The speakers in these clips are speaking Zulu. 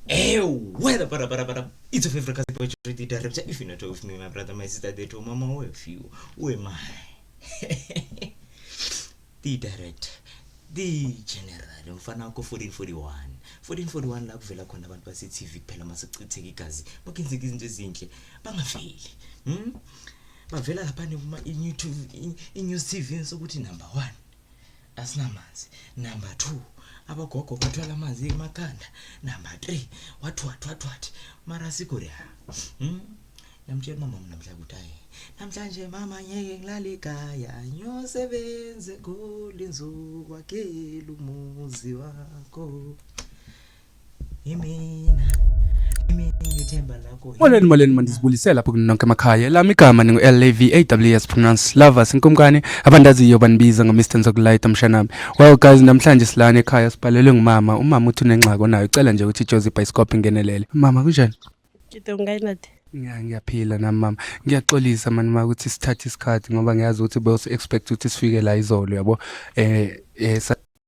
Hey, weather, para, para, para. It's your favorite cousin, Poetry Ready Director. If you're not with me, my brother, my sister, they told mama, where if you, where am I? the director, the general, mfana wakho 1441. 1441 la kuvela khona abantu base-TV kuphela masechitheka igazi, bakenzeka izinto ezinhle, bangaveli. Hmm? Bavela lapha nekuma i-YouTube, i-News TV sokuthi number 1. asinamanzi number 2 abagogo bathwala amanzi emakhanda number 3 wathwathwathwathi mara sigure hmm? namtshela umama namhla ukuthi ayi namhlanje mama ngeke ngilale ekhaya ngiyosebenza eGoli ngizokwakela umuzi wakho Molweni molweni mandizibulisela lapho kunonke emakhaya elami igama ningu-lav pronounce lovers inkumkani abandaziyo banibiza ngo-mr nzokulayita mshanami well guys namhlanje silana ekhaya sibhalelwe ngumama umama uthi unengxaki onayo ucela nje ukuthi ijozi ibhayisikophi ingenelele mama kunjani ngiyaphila nami mama ngiyaxolisa mani ma ukuthi sithathe isikhathi ngoba ngiyazi ukuthi bewusi-expect ukuthi sifike la izolo yabo um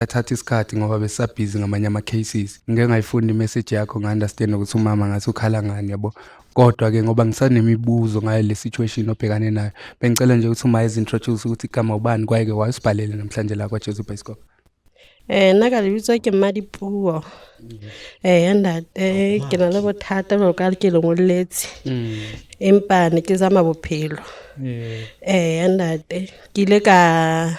athatha isikhathi ngoba besisabhizi ngamanye ama-cases ngike ngayifunda imessage yakho nga-understand ukuthi umama ngathi ukhala ngani yabo kodwa-ke ngoba ngisanemibuzo ngayo le situation obhekane nayo bengicela nje ukuthi uma ezintroduce ukuthi igama ubani kwayeke wayesibhalele namhlanje la kwajesu bhayisikop um eh, nna ka lebitswa ke mmadipuo um eh, ya ntate eh, oh, ke na le bothata jalo ka ke lengoletse mm. empa ne ke zama bophelo um ya ntate ke ile ka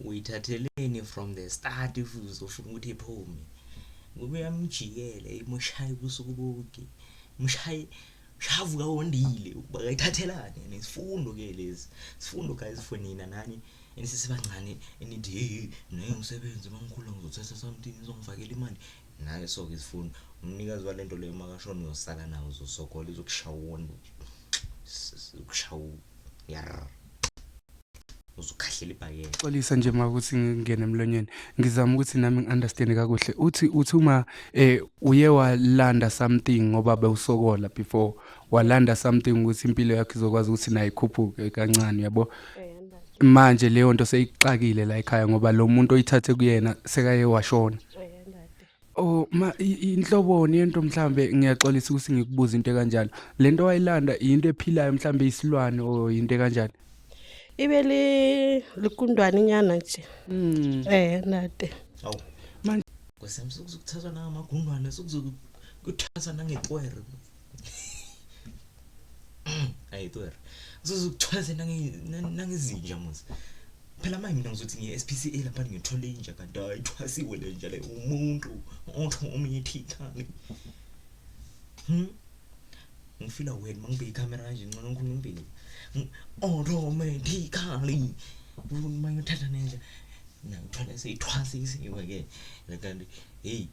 uyithatheleni from the start if uzofuna ukuthi iphume ngoba uyamjikela imushaye ubusuku bonke mushaye shavuka wondile ukuba kayithathelane and isifundo ke lezi sifundo guys for nina nani enisisebancane enithi hey naye umsebenzi mangikhula ngizothatha something izongifakela imali naye so ke isifundo umnikazi walento leyo makashona uyosala nawo uzosokola izokushawona ukushawa Yarr. Uzukhahlela ibhayela. Xolisa nje ma ukuthi ngingene emlonyeni. Ngizama ukuthi nami ngiunderstand kakuhle. Uthi uthi uma eh uye walanda something ngoba bewusokola before walanda something ukuthi impilo yakhe izokwazi ukuthi nayo ikhuphuke kancane yabo. Manje leyo nto seyixakile la ekhaya ngoba lo muntu oyithathe kuyena sekaye washona. Oh ma inhloboni yento mhlambe ngiyaxolisa ukuthi ngikubuza into kanjalo. Lento wayilanda into ephilayo mhlambe isilwane o into kanjalo. Ibe li likundwane nyana nje. Mm. Eh nade. Awu. Manje kwesemsuku ukuthathwa nangamagunwane sukuzokuthatha nangetwere. Hayi tuer. Uzokuthwaze nange nangezinja muzi. Phela manje mina ngizothi ngiye SPCA lapha ngithole inja kanti ayithwasiwe le nja le umuntu otho omunye thithane. Hmm? Ngifila wena mangibheka ikamera kanje ngcono ngikhuluma impilo. Automatically. Uma ngithatha nenja. Nangithwala seyithwasisiwe ke. Kanti hey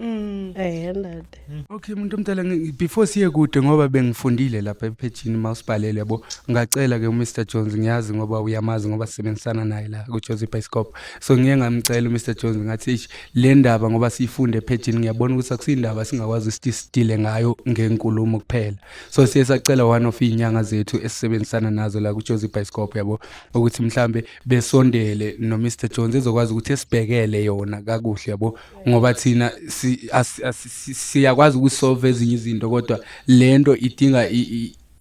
Mm. Eh ndade. Mm. Okay umuntu omdala before siye kude ngoba bengifundile lapha ephejini mawusibhalele yabo ngacela ke uMr Jones ngiyazi ngoba uyamazi ngoba sisebenzisana naye la ku Jones Bioscope so ngiye ngamcela uMr Jones ngathi ish le ndaba ngoba siyifunde ephejini ngiyabona ukuthi akusindaba singakwazi ukuthi sidile ngayo ngenkulumo kuphela so siye sacela one of inyanga zethu esisebenzisana nazo la ku Jones Bioscope yabo ukuthi mhlambe besondele no Mr Jones ezokwazi ukuthi esibhekele yona kakuhle yabo ngoba thina siyakwazi ukusolve ezinye izinto kodwa lento idinga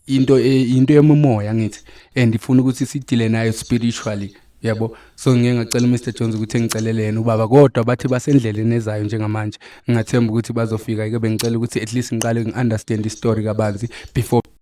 into e, into yemomoya ngithi and ifuna ukuthi sidile nayo spiritually yabo so ngeke ngacela uMr Jones ukuthi engicelele yena ubaba kodwa bathi basendleleni ezayo njengamanje ngingathemba ukuthi bazofika ke bengicela ukuthi at least ngiqale ngiunderstand istory kabanzi before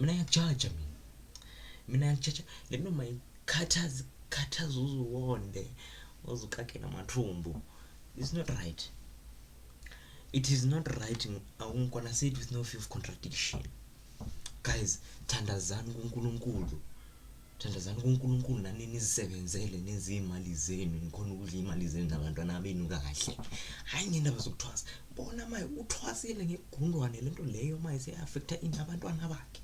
mina ngiyakujaja mina mina ngijaja le noma ikhathaza ikhathaza uzuwonde uzukake namathumbu it's not right it is not right awungikona said with no fear of contradiction guys thandazani kunkulunkulu Thandazani kuNkulunkulu nani nizisebenzele nenze imali zenu nikhona ukudla imali zenu nabantwana benu kahle hayi ngendaba zokuthwasa bona maye uthwasile ngegundwane lento leyo maye seyaffecta ini abantwana bakhe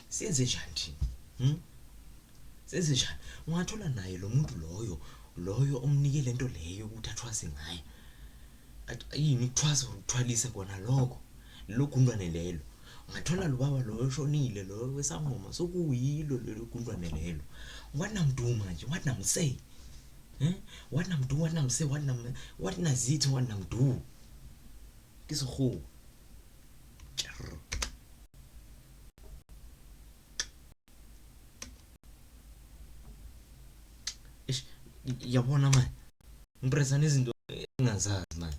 senze njani thina hmm? senze njani ungathola naye lo muntu loyo loyo omnike lento leyo ukuthi athwase ngayo yini ukuthwasa ukuthwalisa kona lokho logundwane lelo Ngathola lo baba loyo oshonile loyo wesangoma sokuyilo lelo gundwane lelo what nam do manje what nam say eh what nam do what nam say what nam what nazithi what nam do kisohu ish yabona manje ngipresana izinto engazazi manje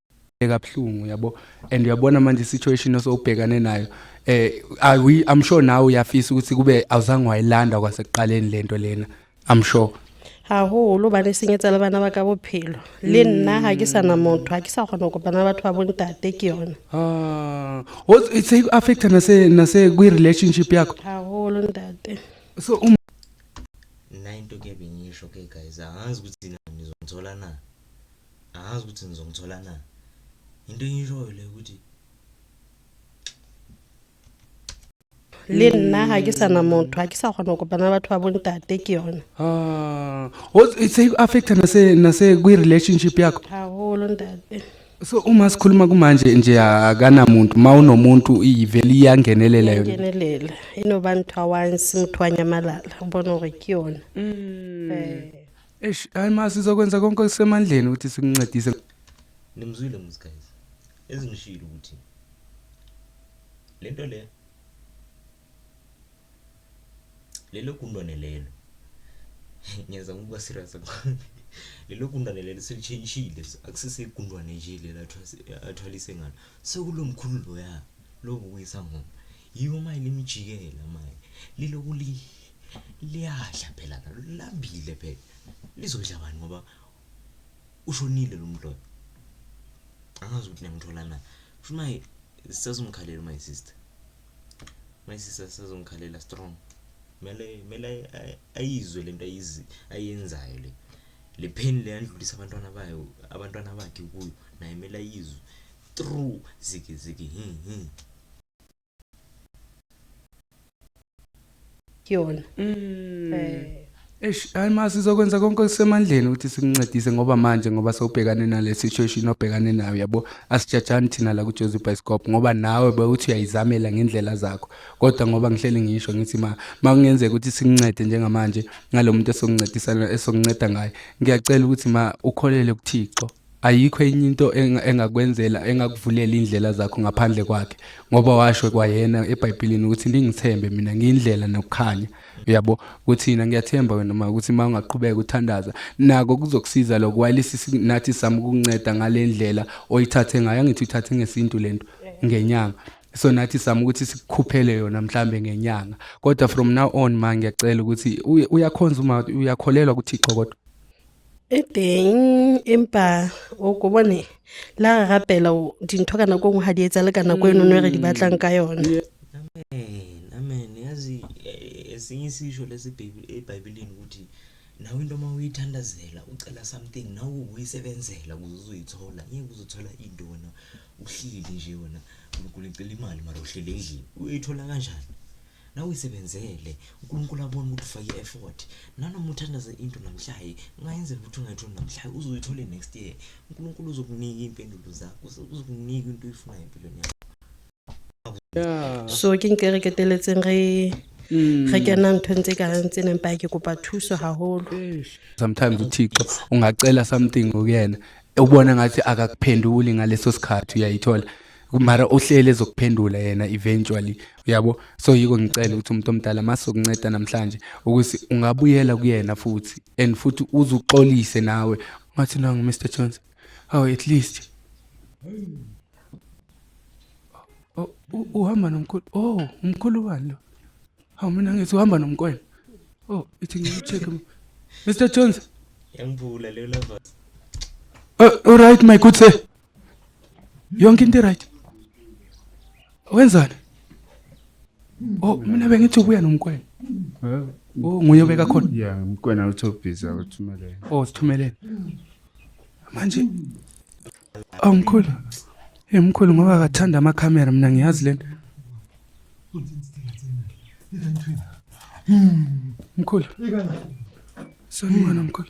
kabuhlungu yabo and uyabona manje situation osowubhekane nayo eh i we i'm sure nawe uyafisa ukuthi kube awuzange wayilanda kwasekuqaleni lento lena i'm sure haholo ba re senyetsa le bana ba ka bophelo le nna ga ke sana motho ga ke sa kgona go kopana batho ba bontate ke yone ah was it say affect na se na se kwi relationship yakho haholo ntate so um nine to ke bingisho ke guys angazi ukuthi nizongithola na angazi ukuthi ngizomthola na into engiyishoyo le ukuthi le nna ga ke sana motho ga ke sa kgona go kopana batho ba bontate ke yone Ah, o- se affecta nase nase kwi relationship yakho gagolo ntate so uma sikhuluma kumanje nje akanamuntu ma unomuntu ivele iyangenelela yona ngenelela e no ba ntho a wanse motho wa nyamalala o bone gore ke yone Eh. Eish, hayi ma sizokwenza konke okusemandleni ukuthi sikuncedise. Nimzwile muz guys. Ezingishilo ukuthi lento le lelo gundwane lelo ngiyenza ngokuba serious lelo gundwane lelo selitshintshile akusese igundwane nje lelo athwalise ngalo sekulomkhulu loya lobu kuyisangoma Yiwo maye limjikela maye. Liloku li liyadla phela nalo lambile phela. Lizodla bani ngoba ushonile lo mdlolo. Angazi ukuthi niyamthola na. Kusho maye sisazomkhalela my sister. My sister sisazomkhalela strong. Mele mele ayizwe lento ayizi ayenzayo le. Le pain le yandlulisa abantwana bayo abantwana bakhe kuyo naye mele ayizwe. True ziki ziki hi hi. kuyona mm. eh Eish hayi ma sizokwenza konke okusemandleni ukuthi sikuncedise ngoba manje ngoba sewubhekane nale situation obhekane nayo yabo asijajani thina la kuJozi Bioscope ngoba nawe bewuthi uyayizamela ngendlela zakho kodwa ngoba ngihleli ngisho ngithi ma makungenzeka ukuthi sikuncede njengamanje ngalomuntu esokuncedisana esokunceda ngaye ngiyacela ukuthi ma ukholele kuThixo Ayikho enye into enga- engakwenzela engakuvulela indlela zakho ngaphandle kwakhe ngoba washo kwayena eBhayibhelini ukuthi ningithembe mina ngiyindlela nokukhanya uyabo kuthina ngiyathemba wena ma ukuthi uma ungaqhubeka uthandaza nako kuzokusiza lokho wayilisi si- nathi sami ukunceda ngalendlela oyithathe ngayo angithi uthathe ngesintu lento ngenyanga so nathi sami ukuthi sikukhuphele yona mhlambe ngenyanga kodwa from now on ma ngiyacela ukuthi uye- uyakhonza uma uyakholelwa kuThixo kodwa e teng empa o ko bone la re rapela dintho ka nako nngwe ga di etsa le ka nako eno no re di batlang ka yone amen yazi eh, esinye isisho lesi ebhayibhelini ukuthi nawe into uma uyithandazela ucela something nawe uyisebenzela ukuze uzoyithola ngeke uzothola into wena uhleli nje wena unkulunkulu icela imali mara uhleli endlini uyithola kanjani Nawe isebenzele uNkulunkulu abone ukuthi ufake i-effort nanoma uthandaze into namhlaye ungayenzela ukuthi ungayitholi namhlaye uzoyithole next year uNkulunkulu uzokunika iy'mpendulo zakho uzokunika into oyifunayo empilweni yakho so ke nke re keteletseng re mm. re kena nthong tse kareng tse neng pake kopa thuso haholo sometimes uthixo ungacela something kuyena ubona ngathi akakuphenduli ngaleso sikhathi uyayithola mara uhlele ezokuphendula yena eventually uyabo so yiko ngicela ukuthi umuntu omdala masokunceda namhlanje ukuthi ungabuyela kuyena futhi and futhi uzuxolise nawe ungathi nangu Mr Jones how oh, at least oh, uhamba nomkhulu oh umkhulu wani lo hawu mina ngithi uhamba nomkwena oh ithi ngicheck Mr Jones yangibula leyo lovers oh, all right my good sir yonke into right wenzani oh mina bengithi ubuya nomkwena oh nguye obeka khona ya umkwena uthi obhiza uthumelele oh sithumelele manje awumkhulu oh, emkhulu ngoba akathanda amakhamera mina ngiyazi lento mkhulu sawubona mkhulu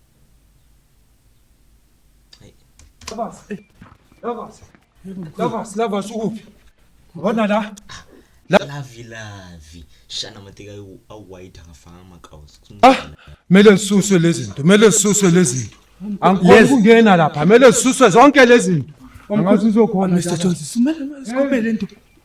Lavas. Lavas. Lavas, Lavas ukuphi? Ngibona la. Lavi lavi. Shana mateka awuwayita ngafaka amakawusi. Ah, mele lisuswe lezi zinto. Mele lisuswe lezi zinto. Angikwazi ukungena lapha. Mele lisuswe zonke lezi zinto. Angazi uzokhona. Mr. Jones, sumele sikhobe lento.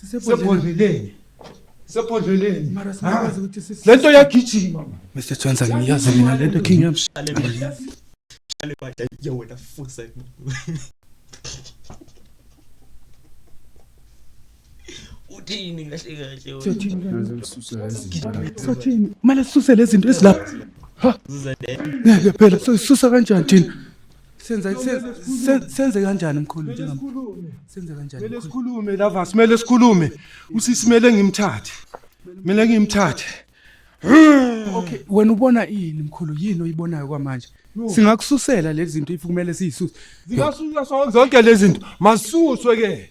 sisebhodleleni sebhodleleni mara singakwazi ukuthi sisi lento yagijima Mr. Twenza ngiyazi mina lento king yami Shale baja yo wena fusa. Uthini kahle kahle wena? sothini kanti? sothini kumele sisuse lezi zinto ezilapha Uzadela. ngeke phela soyisusa kanjani thina senze senze kanjani mkhulu njengami senze kanjani mele sikhulume lava simele sikhulume usisi mele ngimthathe mele ngimthathe okay wena ubona ini mkhulu yini oyibonayo kwamanje singakususela lezi zinto ifukumele siyisuse zingasusa sonke lezi zinto masuswe ke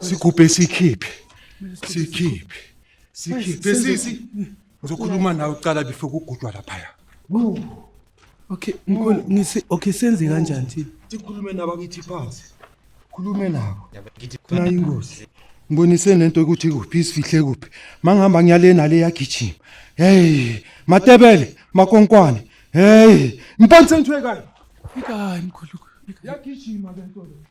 Sigubhe sikhiphe. Sikhiphe. Sikhiphe sisi. Ngizokhuluma nawe uqala before kugudwa laphaya. Okay, mkhulu ngisi okay senze kanjani thina? Sikhulume nabakithi phansi. Khulume nabo. Khona ingozi. Ngibonise nento ukuthi kuphi isifihle kuphi. Mangihamba ngiyale nale yagijima. Hey, Matebele, makonkwane. Hey, mpantsentwe kayo. Fika hayi mkhulu. Yagijima lento le.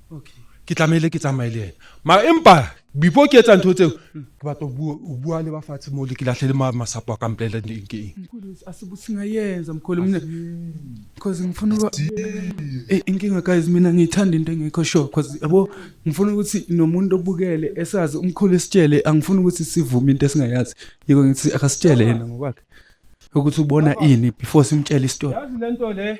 ke tlamehile ke tsamaye le ena mara empa before ke etsa ntho tseo ke batla ho bua le ba fatshe moo le ke lahle le masapo a ka mpolela eng ke eng asibusingayenza mkhulu mina because ngifuna uba eh, inkinga guys mina ngiyithanda into engekho sure because yabo ngifuna ukuthi nomuntu obukele esazi umkhulu esitshele angifuni ukuthi sivume into esingayazi yiko ngithi akasitshele yena ngokwakhe ukuthi ubona ini before simtshele istory yazi lento le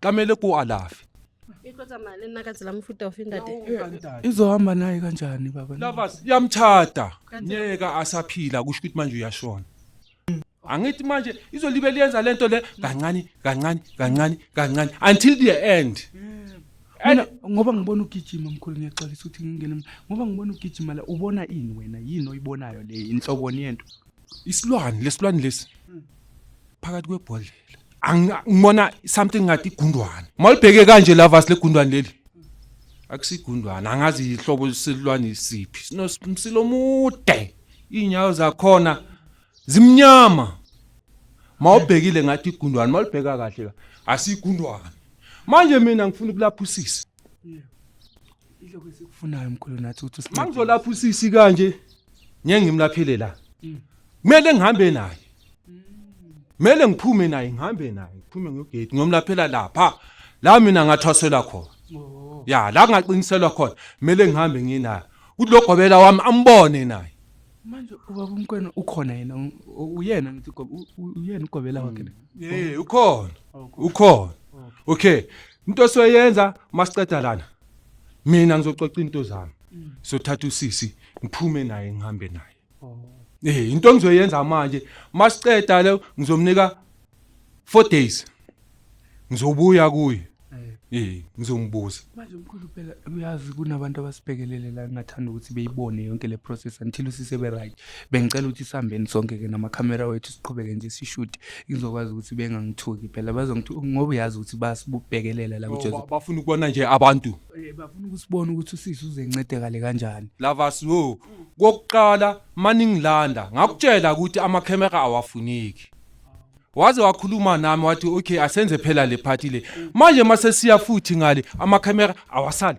kamele ku alafi izohamba naye kanjani baba lovers yamthatha nyeka asaphila kusho ukuthi manje uyashona angithi manje izolibe liyenza lento le kancane kancane kancane kancane until the end mina ngoba ngibona ugijima mkhulu ngiyaxolisa ukuthi ngingene ngoba ngibona ugijima la ubona ini wena yini oyibonayo le inhloboni yento isilwane lesilwane lesi phakathi kwebhodlela Angi- ngibona something ngathi igundwane malibheke kanje lava silegundwane leli akusigundwane angazi ihlobo lesilwane siphi sinomsilo omude iy'nyawo zakhona zimnyama mawubhekile ngathi igundwane malibheka kahle ka asigundwane manje mina ngifuna ukulapha usisi Ilokho esikufunayo mkhulu nathi ukuthi usine- Mangizolapha usisi kanje ngeke ngimlaphele la. Kumele ngihambe naye. Kumele ngiphume naye ngihambe naye ngiphume ngegate ngiyomlaphela lapha. La mina ngathwasela khona. Ya la ngaqiniselwa khona kumele ngihambe nginaye. Udlogobela wami ambone naye. manje ubaba umkwena ukhona yena u- u- uyena ngithi ugobe- u- u- uyena ugobela wakhe na? Eh ukhona. Ukhona. Okay. into esiyoyenza masiqeda lana mina ngizoxoxa into zami sothatha usisi ngiphume naye ngihambe naye eh into engizoyenza manje masiqeda le ngizomnika 4 days ngizobuya kuye eh ngizombuza manje mkhulu phela uyazi kunabantu abasibhekelele la ngingathanda ukuthi beyibone yonke le process until usise be right Bengicela ukuthi sihambeni sonke-ke namakhamera wethu siqhubeke nje sishuthi ngizokwazi ukuthi bengangithuki phela bazongithi ngoba uyazi ukuthi basibubhekelela la kuJoseph. bafuna ukubona nje abantu Eh, Bafuna ukusibona ukuthi usisi uzencedekale kanjani. lavas wo kokuqala maningilanda ngakutshela ukuthi amakhemera awafuneki waze wakhuluma nami wathi okay asenze phela le party le manje masesiya futhi ngale amakhemera awasali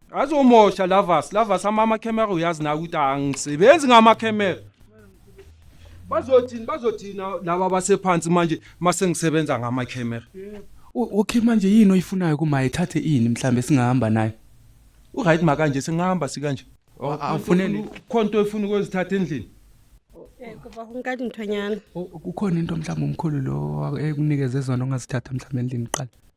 Azomosha Lavas, Lavas amama camera uyazi nawe ukuthi angisebenzi ngama camera. Bazothini bazothina laba basephansi manje mase ngisebenza ngama camera. U- okay manje yini oyifunayo kumaye thathe ini mhlambe singahamba naye U right makanje singahamba sikanje. awufuneni Khona into efuna ukwezithatha endlini. Eh, kuba kunkani mthonyana. kukhona into mhlawumbe umkhulu lo ekunikeze zona ongazithatha mhlawumbe endlini kuqala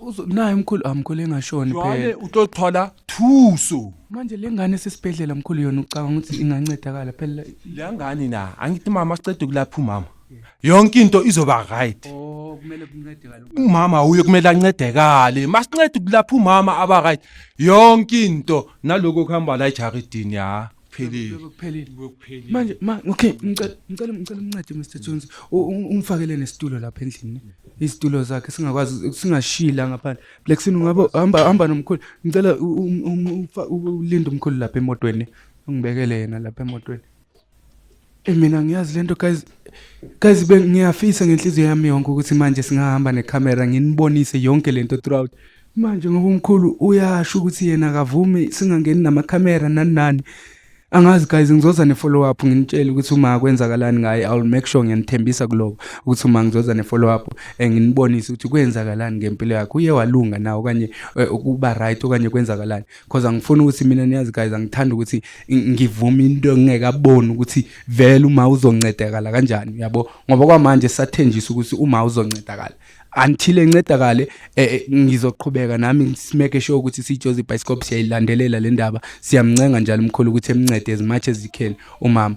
Uzo naye umkhulu amkhulu engashoni Jwale phela. utothola thuso. Manje lengane sesibhedlela mkhulu yona ucabanga ukuthi ingancedakala phela. Lengane na angithi mama sicede kulapha umama. Yonke into izoba right. Oh kumele kuncedakale. Umama uye kumele ancedekale. Masincede kulapha umama aba right. Yonke into naloko kuhamba la ejaridini ya. phelile kuphelile kuphelile manje ma okay ngicela ngicela ngicela umncede Mr Jones U- u- ungifakele nesitulo lapha endlini izitulo zakhe singakwazi singashila ngaphandle Black Sin ungaba hamba hamba nomkhulu ngicela u- u- um- ufa- u- ulinde umkhulu lapha emotweni ungibekele yena lapha emotweni Mina ngiyazi lento guys guys bengiyafisa ngenhliziyo yami yonke ukuthi manje singahamba necamera nginibonise yonke lento throughout manje ngoba umkhulu uyasho ukuthi yena akavumi singangeni namakhamera nani nani angazi guys ngizoza ne-follow up nginitshele ukuthi uma kwenzakalani ngaye iwill make sure ngiyanithembisa kuloko ukuthi uma ngizoza ne-follow up eh, nginibonise ukuthi kwenzakalani ngempilo yakhe uye walunga na okanye eh, ukuba right okanye kwenzakalani cause angifuni ukuthi mina niyazi guys angithanda ukuthi ngivume into engingekaboni ukuthi vele uma uzoncedakala kanjani uyabo ngoba kwamanje sathenjisa ukuthi uma uzoncedakala until encedakale eh, eh, ngizoqhubeka nami ngisimeke sure ukuthi siJozi Bioscope siyayilandelela le ndaba siyamncenga njalo umkhulu ukuthi emncede as much as he can umama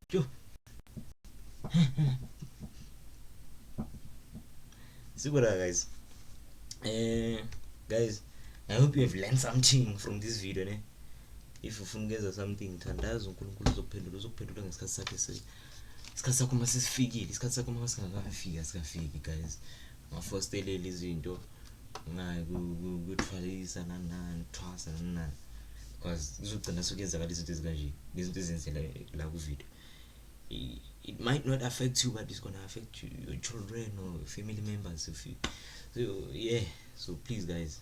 Yho. Sikora guys. Eh guys, I hope you have learned something from this video ne. If ufuna ukwenza something thandaza uNkulunkulu uzokuphendula uzokuphendula ngesikhathi sakhe se. Isikhathi sakho uma sesifikile, isikhathi sakho uma singakafiki asikafiki guys. ngafostelela izinto ngaye kuthwalisa nani nani thwasa nani nani because kuzogcina sekuyenzakala izinto ezikanje nezinto ezenzela la kuvideo it might not affect you but it's gonna affect you, your children or family members if you so yeah so please guys